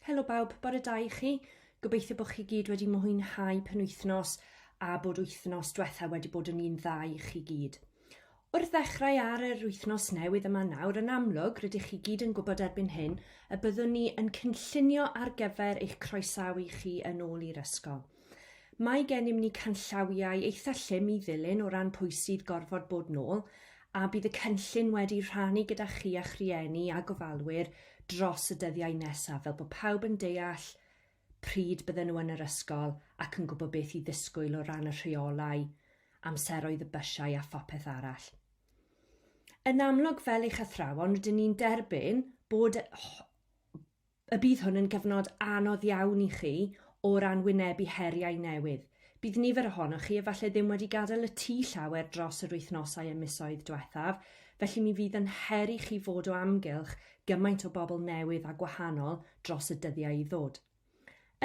Helo bawb, bore da i chi. Gobeithio bod chi gyd wedi mwynhau penwythnos a bod wythnos diwetha wedi bod yn un dda i chi gyd. Wrth ddechrau ar yr wythnos newydd yma nawr, yn amlwg, rydych chi gyd yn gwybod erbyn hyn y byddwn ni yn cynllunio ar gyfer eich croesawu chi yn ôl i'r ysgol. Mae gennym ni canllawiau eitha llym i ddilyn o ran pwy sydd gorfod bod nôl, a bydd y cynllun wedi rhannu gyda chi a'ch rhieni a gofalwyr dros y dyddiau nesaf fel bod pawb yn deall pryd bydden nhw yn yr ysgol ac yn gwybod beth i ddisgwyl o ran y rheolau, amseroedd y bysiau a phopeth arall. Yn amlwg fel eich athrawon rydyn ni'n derbyn bod Y bydd hwn yn gyfnod anodd iawn i chi o ran wynebu heriau newydd. Bydd nifer ohonoch chi efallai ddim wedi gadael y tŷ llawer dros yr wythnosau a misoedd diwethaf, felly mi fydd yn her i chi fod o amgylch gymaint o bobl newydd a gwahanol dros y dyddiau i ddod.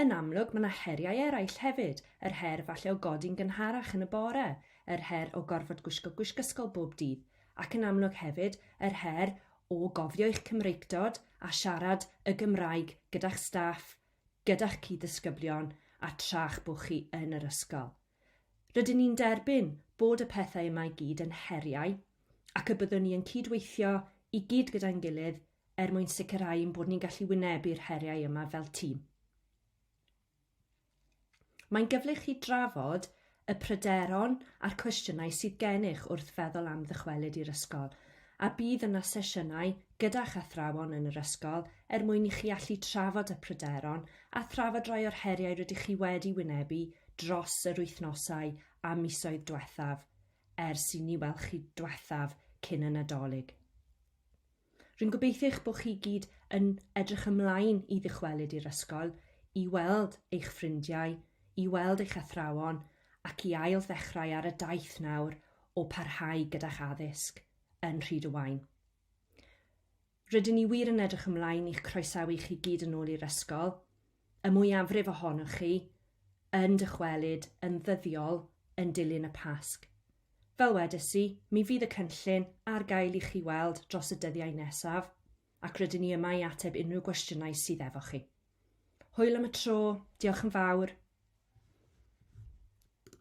Yn amlwg, mae yna heriau eraill hefyd, yr her falle o godi'n gynharach yn y bore, yr her o gorfod gwisgo gwisg ysgol bob dydd, ac yn amlwg hefyd yr her o gofio eich Cymreictod a siarad y Gymraeg gyda'ch staff, gyda'ch cyd-ddisgyblion a tra'ch bo chi yn yr ysgol. Rydyn ni'n derbyn bod y pethau yma i gyd yn heriau ac y byddwn ni yn cyd-weithio i gyd gyda'n gilydd er mwyn sicrhau ein bod ni'n gallu wynebu'r heriau yma fel tîm. Mae'n gyfle i chi drafod y pryderon a'r cwestiynau sydd gennych wrth feddwl am ddychwelyd i'r ysgol, a bydd yna sesiynau gyda'ch athrawon yn yr ysgol er mwyn i chi allu trafod y pryderon a thrafod rhai o'r heriau rydych chi wedi wynebu dros yr wythnosau a misoedd dwethaf ers i ni weld chi dwethaf cyn y Nadolig. Rwy'n gobeithio eich bod chi gyd yn edrych ymlaen i ddychwelyd i'r ysgol, i weld eich ffrindiau, i weld eich athrawon ac i ail ddechrau ar y daith nawr o parhau gyda'ch addysg yn Rhyd y Waun. Rydyn ni wir yn edrych ymlaen i'ch croesawu chi gyd yn ôl i'r ysgol. y mwyafrif ohonoch chi yn dychwelyd yn ddyddiol yn dilyn y Pasg. Fel wedes i, mi fydd y cynllun ar gael i chi weld dros y dyddiau nesaf, ac rydyn ni yma i ateb unrhyw gwestiynau sydd efo chi. Hwyl am y tro, diolch yn fawr.